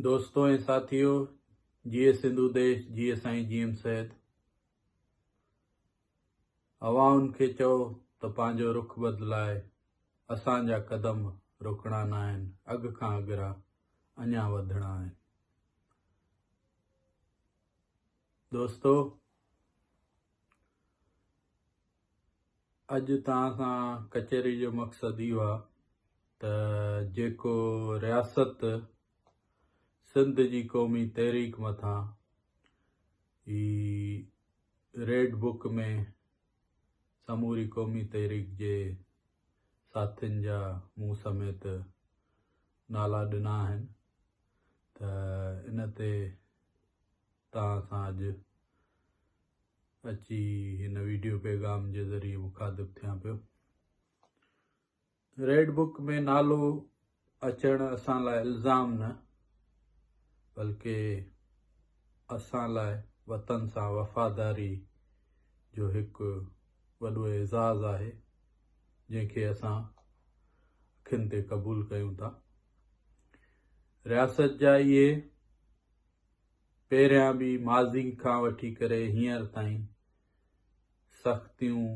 دوستو ۽ ساٿيو جيئي سنڌو ديش جيئي سائين جي ايم سيد اوهان کي چئو ته پنهنجو رخ بدلائي اسان جا قدم روڪڻا نه آهن اڳ کان اگرا اڃا وڌڻا آهن دوستو اڄ توهان سان ڪچهري جو مقصد اهو آهي ته جيڪو رياست سنڌ جي قومي تحريڪ مٿان هي ريڊ بڪ ۾ سموري قومي تحريڪ جي ساٿين جا مون سميت نالا ڏنا آهن ته ان تي توهان سان اڄ اچي هن ويڊيو پيغام جي ذريعي مخاطب ٿيان پيو ريڊ بڪ ۾ نالو اچڻ اسان لاء الزام نه بلڪه اسان لاء وطن سان وفاداري جو هڪ وڏو اعزاز آهي جنهن کي اسان اکين تي قبول ڪيون ٿا رياست جا اهي پهريان به ماضي کان وٺي ڪري هينئر تائين سختيون،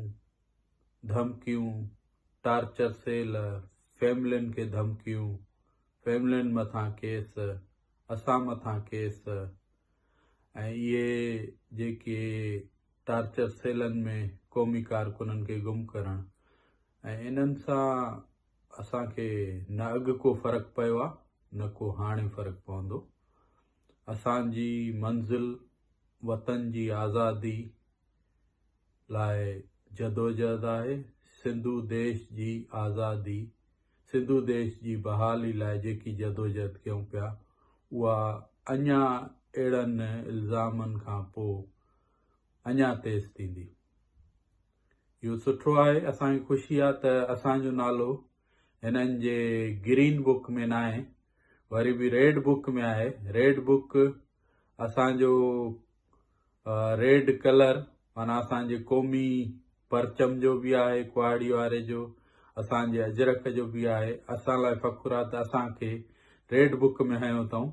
ڌمڪيون، ٽارچر سيل، فيملين کي ڌمڪيون، فيملين مٿان ڪيس، اسان مٿان ڪيس ۽ اهي جيڪي ٽارچر سيلن ۾ قومي ڪارڪنن کي گم ڪرڻ ۽ انهن سان اسان کي نه اڳ ڪو فرق پيو آهي نه ڪو هاڻي فرق پوندو. اسان جي منزل وطن جي آزادي لاء جدوجهد آهي، سنڌو ديش جي آزادي، سنڌو ديش جي بحالي لاء جيڪي جدوجهد ڪيون پيا اها اڃا اهڙن الزامن کان پوء اڃا تيز ٿيندي. اهو سٺو آهي، اسان کي خوشي آهي ته اسان جو نالو هنن جي گرين بوڪ ۾ ناهي وري به ريڊ بوڪ ۾ آهي ريڊ بوڪ اسان جو ريڊ ڪلر مانا اسان جي قومي پرچم جو به آهي ڪهاڙي واري جو اسان جي اجرڪ جو به آهي اسان لاء فخر آهي ته اسان کي ريڊ بوڪ ۾ هنيو اٿائون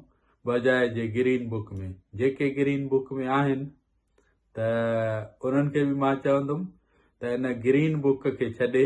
بجاء جي گرين بوڪ ۾ جيڪي گرين بوڪ ۾ آهن ته انهن کي به مان چوندم ته ان گرين بوڪ کي ڇڏي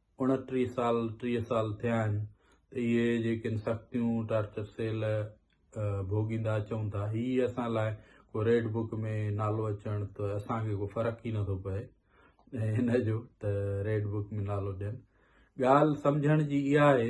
اڻٽيهه سال ٽيهه سال ٿيا آهن ته اهي جيڪين سختيون ٽارچر سيل ڀوڳيندا اچون ٿا هي اسان لاء ڪو ريڊ بڪ ۾ نالو اچڻ ته اسان کي ڪو فرق ئي نٿو پئي هن جو ته ريڊ بڪ ۾ نالو ڏين ڳالهه سمجهڻ جي اها آهي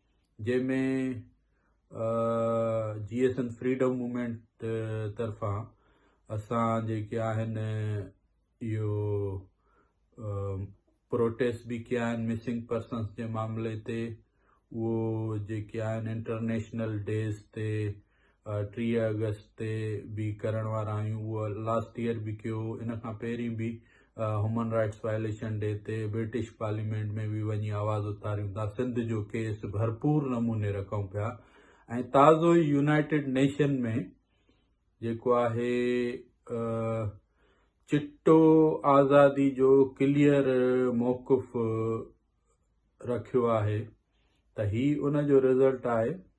جنهن ۾ J S N freedom movement طرفان اسان جيڪي آهن اهو پروٽيسٽ به ڪيا آهن مسنگ پرسنس جي معاملي تي اهو جيڪي آهن انٽرنيشنل ڊيز تي ٽيهه آگسٽ تي به ڪرڻ وارا آهيون اهو لاسٽ ايئر به ڪيو هو ان کان پهرين به هيومن رائٽس وائليشن ڊي تي برٽش پارليامينٽ ۾ به وڃي آواز اٿاريون ٿا سنڌ جو ڪيس ڀرپور نموني رکون پيا ۽ تازو ئي يونائٽيڊ نيشن ۾ جيڪو آهي چٽو آزادي جو ڪليئر موقف رکيو آهي ته هي ان جو رزلٽ آهي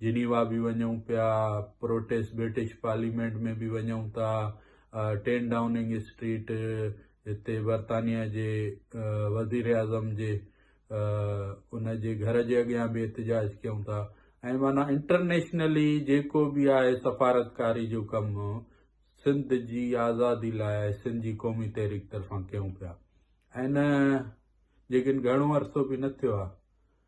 جنيوا به وڃون پيا، پروٽيس برٽش پارليمينٽ ۾ به وڃون ٿا، ٽين ڊائوننگ اسٽريٽ هتي برطانيا جي وزيراعظم جي ان جي گهر جي اڳيان به احتجاج ڪيون ٿا ۽ معنيٰ انٽرنيشنلي جيڪو به آهي سفارتڪاري جو ڪم سنڌ جي آزادي لاء سنڌ جي قومي تحريڪ طرفان ڪيون پيا ۽ جيڪن گهڻو عرصو به نه ٿيو آهي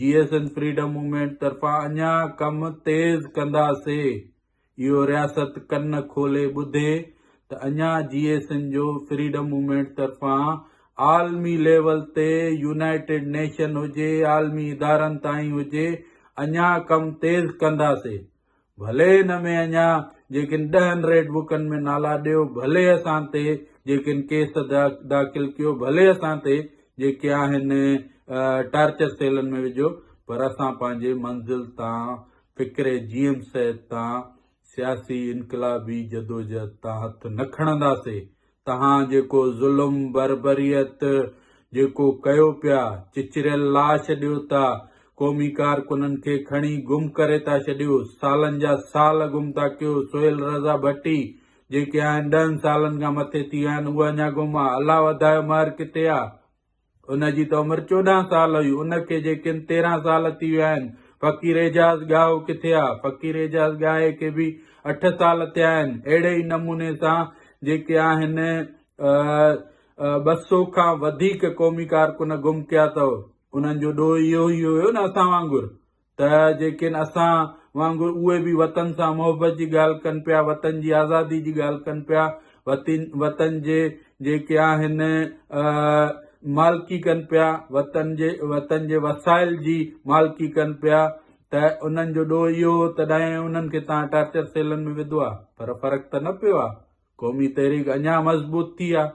J S N freedom movement طرفان اڃا ڪم تيز ڪنداسي اهو رياست ڪن کولي ٻڌي ته اڃا جي ايس اين جو فريڊم موومينٽ طرفان عالمي ليول تي يونائيٽيڊ نيشن هجي عالمي ادارن تائين هجي اڃا ڪم تيز ڪنداسي ڀلي ان ۾ اڃا جيڪن ڏهن ريڊ بڪن ۾ نالا ڏيو، ڀلي اسان تي جيڪن ڪيس داخل ڪيو، ڀلي اسان تي جيڪي آهن ٽارچر سيلن ۾ وجهو پر اسان پنهنجي منزل تان فڪري جيم سيد تان سياسي انقلابي جدوجهد تان هٿ نه کڻنداسي، توهان جيڪو ظلم بربريت جيڪو ڪيو پيا چچريل لاش ڏيو ٿا قومي ڪارڪنن کي کڻي گم ڪري ٿا ڇڏيو سالن جا سال گم ٿا ڪيو سهيل رضا ڀٽي جيڪي آهن ڏهن سالن کان مٿي ٿي ويا آهن اهي اڃا گم آ الله وڌايو مهر ڪٿي آ. ان جي ته عمر چوڏهن سال هئي، ان کي جي ڪن تيرهن سال ٿي ويا آهن. فقير اعجاز ڳاهو ڪٿي آ؟ فقير اعجاز ڳاهي کي به اٺ سال ٿيا آهن. اهڙي ئي نموني سان جيڪي آهن ٻه سو کان وڌيڪ قومي ڪارڪن گم ڪيا اٿئو. انهن جو ڏوهه اهو ئي هيو نه اسان وانگر. ته جيڪين اسان وانگر اهي به وطن سان محبت جي ڳالهه ڪن پيا، وطن جي آزادي جي ڳالهه ڪن پيا، وطن جي جيڪي آهن مالڪي ڪن پيا، وطن جي وطن جي وسائل جي مالڪي ڪن پيا ته انهن جو ڏوهه اهو هو تڏهن انهن کي توهان ٽارچر سيلن ۾ وڌو آهي پر فرق ته نه پيو آهي، قومي تحريڪ اڃا مضبوط ٿي آهي.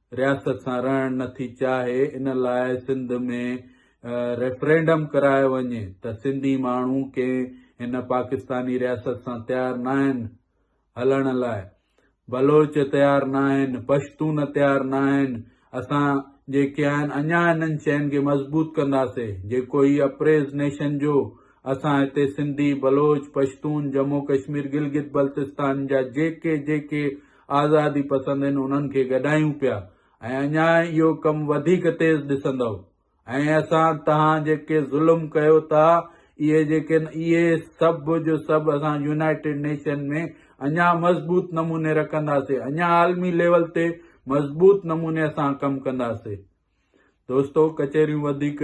رياست سان رهڻ نه ٿي چاهي ان لاء سنڌ ۾ ريفرينڊم ڪرايو وڃي ته سنڌي ماڻهو ڪنهن هن پاڪستاني رياست سان تيار ناهن هلڻ لاء بلوچ تيار ناهن پشتون تيار ناهن اسان جيڪي آهن اڃا انهن شين کي مضبوط ڪنداسي جيڪو هي اپريز نيشن جو اسان هتي سنڌي بلوچ پشتون جمو ڪشمير گلگت بلتستان جا جيڪي جيڪي آزادي پسند ھن انھن کي گڏايون پيا ۽ اڃا اھو ڪم وڌيڪ تيز ڏسندؤ ۽ اسان تھان جيڪي ظلم ڪيو ٿا اھي جيڪن اھي سڀ جو سڀ اسان يونائيٽيڊ نيشن ۾ اڃا مضبوط نموني رکنداسي اڃا عالمي ليول تي مضبوط نموني اسان ڪم ڪنداسي دوستو ڪچھريون وڌيڪ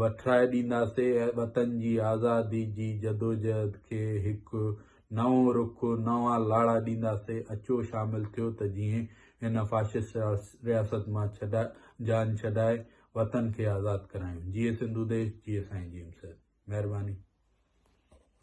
وٺرائي ڏينداسين ۽ وطن جي آزادي جي جدوجهد کي هڪ نئون رخ، نوان لاڙا ڏينداسين، اچو شامل ٿيو ته جيئن هن فاشسٽ رياست مان جان ڇڏائي وطن کي آزاد ڪرايون. جيئي سنڌو ديش، جيئي سائين جيمس صاحب. مهرباني.